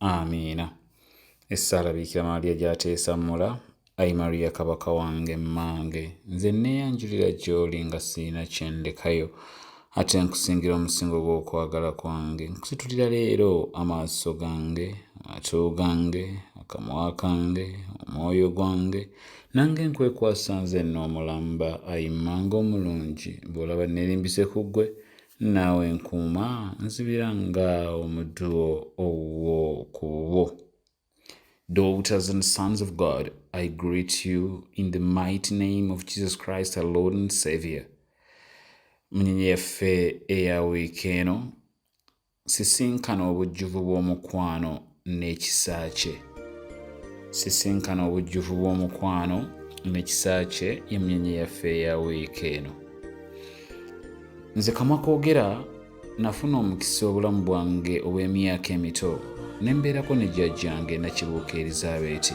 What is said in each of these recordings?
amiina essaala biikira maaliya gyateesammula ayi mariya kabaka wange mmange nze nneeyanjulira gy'oli nga sirina kye ndekayo ate nkusingira omusingo gw'okwagala kwange nkusitulira leero amaaso gange amatu gange akamwa kange omwoyo gwange nange nkwekwasa nze nno omulamba ayi mmange omulungi bw'olaba nneerimbise ku ggwe naawe nkuuma nzibira nga omuddu owuwo ku bubwo daughters and sons of god i greet you in the mighty name of jesus christ our lord and savior munyenye yaffe eya wiiki eno sisinkana obujjuvu bw'omukwano n'ekisa kye. Sisinkana obujjuvu bw'omukwano n'ekisa kye y'emmunyenye yaffe eya wiiki eno. Nze kamwa koogera nafuna omukisa obulamu bwange obw'emyaka emito ne mbeerako ne jjajjange Nakibuuka Erizabeeti.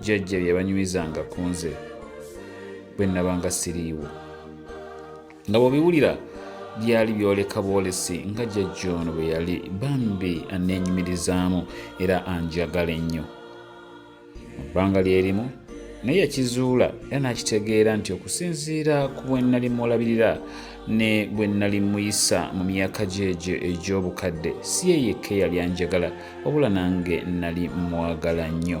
jjajja bye yabanyumizanga ku nze bwe nnabanga siriiwo nga bw'obiwulira byali byoleka bwolesi nga jjajja ono bwe yali bambi anneenyumirizaamu era anjagala ennyo mu bbanga lyerimu naye yakizuula era n'akitegeera nti okusinziira ku bwe nnali mulabirira ne bwe nnali muyisa mu myaka gyegyo egy'obukadde si ye yekka eyali anjagala wabula nange nnali mwagala nnyo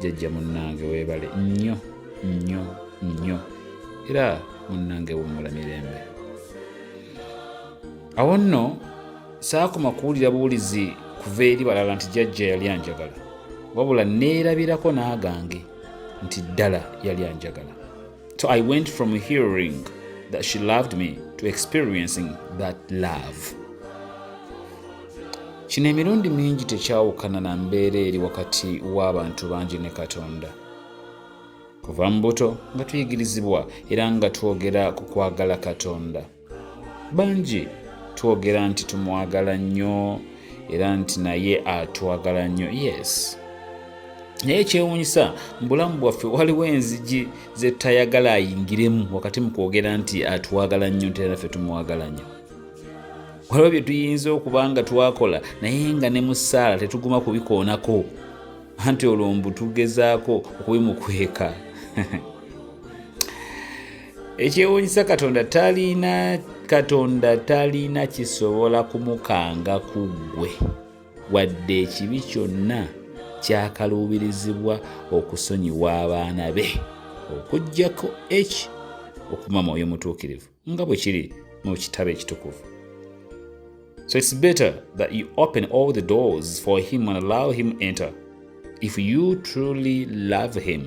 jajja munnange weebale nnyo nnyo nnyo era munnange wummula mirembe awo nno saakoma kuwulira buwulizi kuva eri balala nti jajja yali anjagala wabula neerabirako n'agange nti ddala yali anjagala So I went from hearing that she loved me to experiencing that love. Kino emirundi mingi tekyawukana na mbeera eri wakati w'abantu bangi ne Katonda. Kuva mu buto nga tuyigirizibwa era nga twogera ku kwagala Katonda. bangi twogera nti tumwagala nnyo era nti naye atwagala nnyo yes naye ekyewuunyisa mu bulamu bwaffe waliwo enzigi zetayagala ayingiremu wakati mu kwogera nti atwagala nnyo nti era ffe tumwagala nnyo waliwo bye tuyinza okuba nga twakola naye nga ne mu ssaala tetuguma kubikoonako anti olwo mbu tugezaako okubimukweka ekyewuunyisa katonda talina katonda talina kisobola kumukanga ku ggwe wadde ekibi kyonna kyakaluubirizibwa okusonyiwa abaana be okuggyako h okuma mwoyo mutuukirivu nga bwe kiri mu kitabo ekitukuvu so its better that you open all the doors for him and allow him enter if you truly love him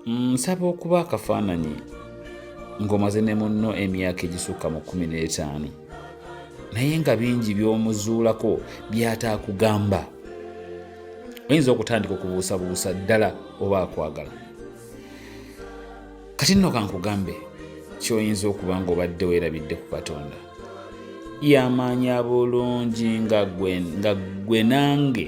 nsaba okuba akafaananyi ng'omaze ne munno emyaka egisukka mu kumi n'etaano naye nga bingi by'omuzuulako by'ataakugamba oyinza okutandika okubuusabuusa ddala oba akwagala kati nno kankugambe kyoyinza okuba nga obadde weerabidde ku katonda yamanya bulungi nga gwe nange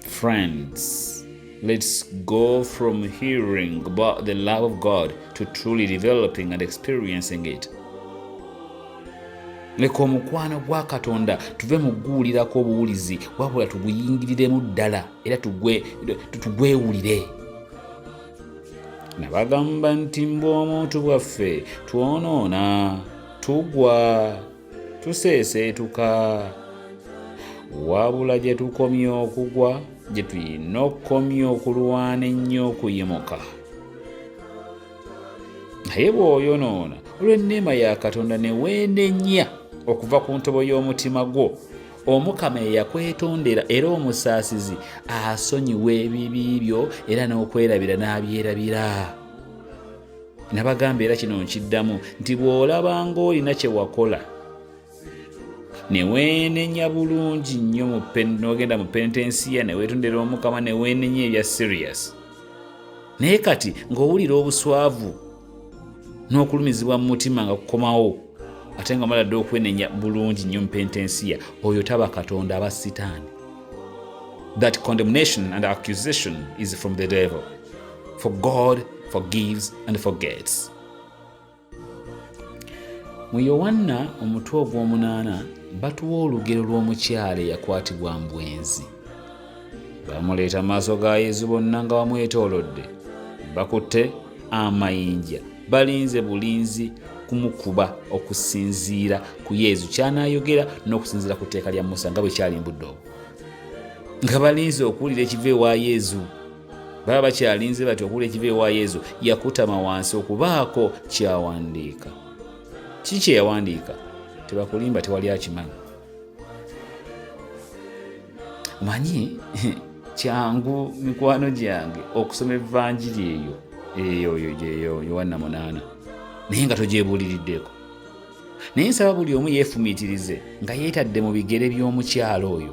Friends, let's go from hearing about the love of God to truly developing and experiencing it. leka omukwano gwa katonda tuve mu kuguwulirako obuwulizi wabula tuguyingiriremu ddala era tugwewulire nabagamba nti mbwa omuntu bwaffe twonoona tugwa tuseeseetuka wabula gye tukomye okugwa gye tulina okukomya okulwana ennyo okuyimuka naye bw'oyonoona olw'enneema ya katonda ne weenenya okuva ku ntobo y'omutima gwo omukama eyakwetondera era omusaasizi asonyiwa ebibi byo era n'okwerabira n'abyerabira nabagamba era kino nkiddamu nti bw'olaba ng'olina kye wakola ne weenenya bulungi nnyo n'ogenda mu pentensiya ne weetondera omukama ne weenenya ebya sirius naye kati ng'owulira obuswavu n'okulumizibwa mu mutima nga kukomawo ate nga mala dda okwenenya bulungi nnyo mu pentensiya oyo taba katonda aba sitaani that condemnation and accusation is from the devil for God forgives and forgets. Mu Yowanna omutwe ogw'omunaana batuwa olugero lw'omukyala eyakwatibwa mu bwenzi. Bamuleeta maaso ga Yezu bonna nga bamwetoolodde, bakutte amayinja, balinze bulinzi kumukuba okusinziira ku Yezu ky'anaayogera n'okusinziira ku tteeka lya Musa nga bwe kyalimbudde obwo. Nga balinze okuwulira ekiva ewa Yezu. baba bakyalinze bati okuwula ekiva ewa yezu yakutama wansi okubaako kyawandiika kiki kyeyawandiika tebakulimba tewali akimanyi manyi kyangu mikwano gyange okusoma evanjiri eyo eyoyo gyeyo yowanna munaana naye nga togyebuuliriddeko naye nsaba buli omu yeefumiitirize nga yeetadde mu bigere by'omukyalo oyo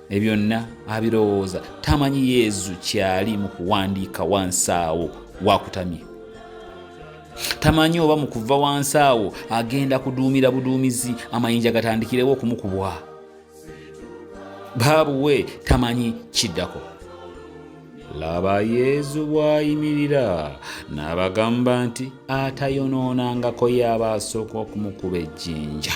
ebyonna abirowooza tamanyi yezu kyali mu kuwandiika wansi awo wakutamye tamanyi oba mu kuva wansi awo agenda kuduumira buduumizi amayinja gatandikirewo okumukubwa baabuwe tamanyi kiddako laba yezu bw'ayimirira n'abagamba nti atayonoonangako y'aba asooka okumukuba ejjinja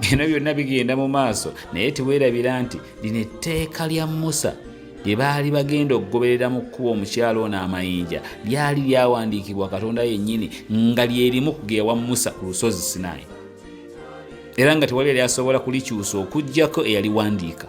bino byonna bigenda mu maaso naye teweerabira nti lino etteeka lya musa lye baali bagenda okugoberera mu kkuba omukyalo ono amayinja lyali lyawandiikibwa katonda yennyini nga lyerimu kugeewa musa ku lusozi sinaayi era nga tewali yali asobola kulikyusa okugyako eyaliwandiika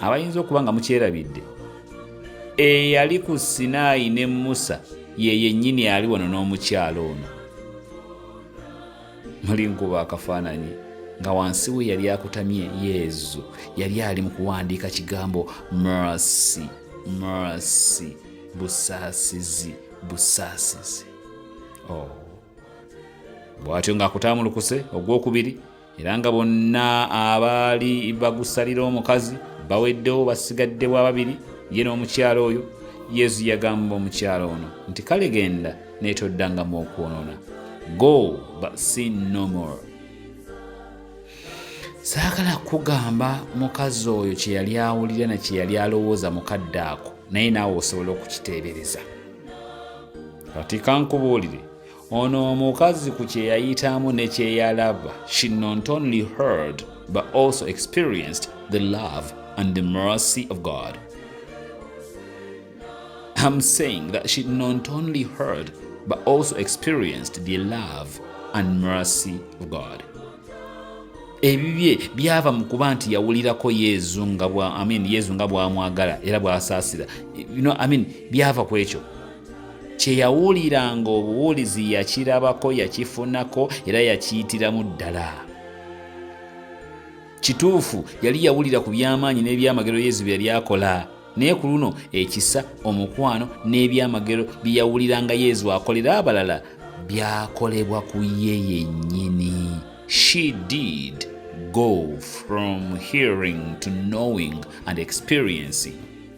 abayinza okuba nga mukyerabidde eyali ku sinaayi ne musa ye yennyini ali wano n'omukyalo ono muli nkuba akafaananyi nga wansi we yali akutamye yezu yali ali mu kuwandiika kigambo mercy mercy busaasizi busaasizi oh. bw'atyo ng'akutamulukuse ogw'okubiri era nga bonna abaali bagusalira omukazi baweddewo basigadde bwa babiri ye n'omukyalo oyo yesu yagamba omukyalo ono nti kale genda naye toddangamu okwonoona go but sin no more saagala kugamba mukazi oyo kye yali awulira na kye yali alowooza mukadde ako naye naawe osobola okukiteebereza kati kankubuulire Ono omukazi ku kye yayitamu ne kye yalaba, she not only heard but also experienced the love and the mercy of God. I'm saying that she not only heard but also experienced the love and mercy of God. ebibye byava mu kuba nti yawulirako yezu nga bwa amin yezu nga bwamwagala era bwasaasira you know, amin byava ku ekyo kye yawuliranga obuwulizi yakirabako yakifunako era yakiyitiramu ddala kituufu yali yawulira ku by'amaanyi n'ebyamagero yezu bye yali akola naye ku luno ekisa omukwano n'ebyamagero bye yawuliranga yezu akolera abalala byakolebwa ku ye yennyini she did go from hearing to knowing and experiencing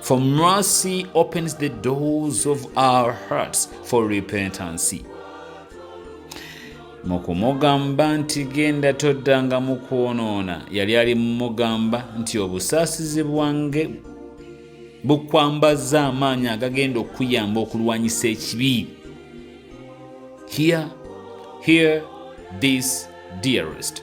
For mercy opens the doors of our hearts for repentance. mu kumugamba nti genda toddanga mu kwonoona yali ali mumugamba nti obusaasizi bwange bukwambazza amaanyi agagenda okukuyamba okulwanyisa ekibi here here this dearest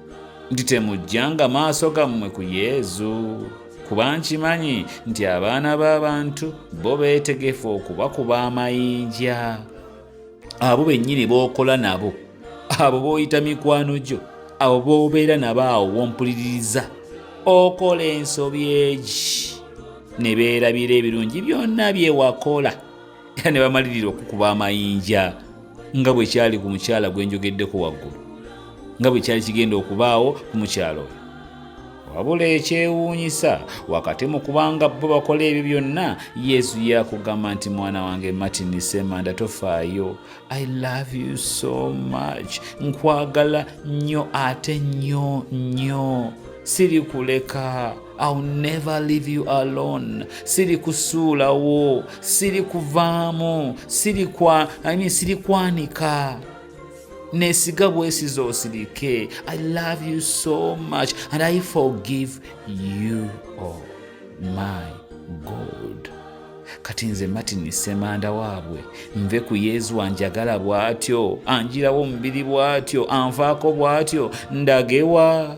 nti temujjanga maaso gammwe ku yezu kuba nkimanyi nti abaana b'abantu bo beetegefu okubakuba amayinja abo bennyini b'okola nabo abo b'oyita mikwano gyo abo b'obeera nabo awo wompuliririza okola ensobi egi ne beerabira ebirungi byonna bye wakola era ne bamalirira okukuba amayinja nga bwe kyali ku mukyala gwe njogeddeko waggulu nga bwe kyali kigenda okubaawo ku mukyalo oyo wabula ekyewuunyisa wakati mu kubanga bo bakola ebyo byonna yesu yakugamba nti mwana wange martin semanda tofaayo i love you so much nkwagala nnyo ate nnyo nnyo sirikuleka I'll never leave you alone. Siri kusuulawo, siri kuvaamu, siri kwa, I mean, siri kwanika. Nesiga bwesiza osirike. I love you so much and I forgive you. Oh my God. Kati nze Martin Semanda waabwe nve ku Yezu anjagala bw'atyo, anjirawo omubiri bw'atyo, anvaako bw'atyo, ndagewa.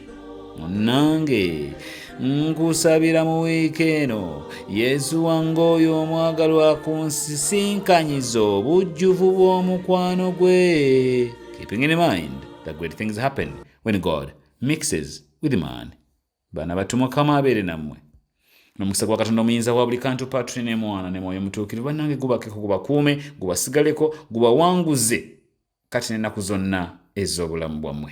munnange nkusabira mu wiiki eno yesu wange oyo omwagalwa ku nsisinkanyiza obujjuvu bw'omukwano gwe keeping in mind the great things happen when god mixes with man bana batu mukama abeere nammwe nomukisa gwa katonda omuyinza wa buli kantu patri ne mwana ne mwoyo mutuukirivu bannange gubakeko gubakuume gubasigaleko gubawanguze kati n'ennaku zonna ez'obulamu bwammwe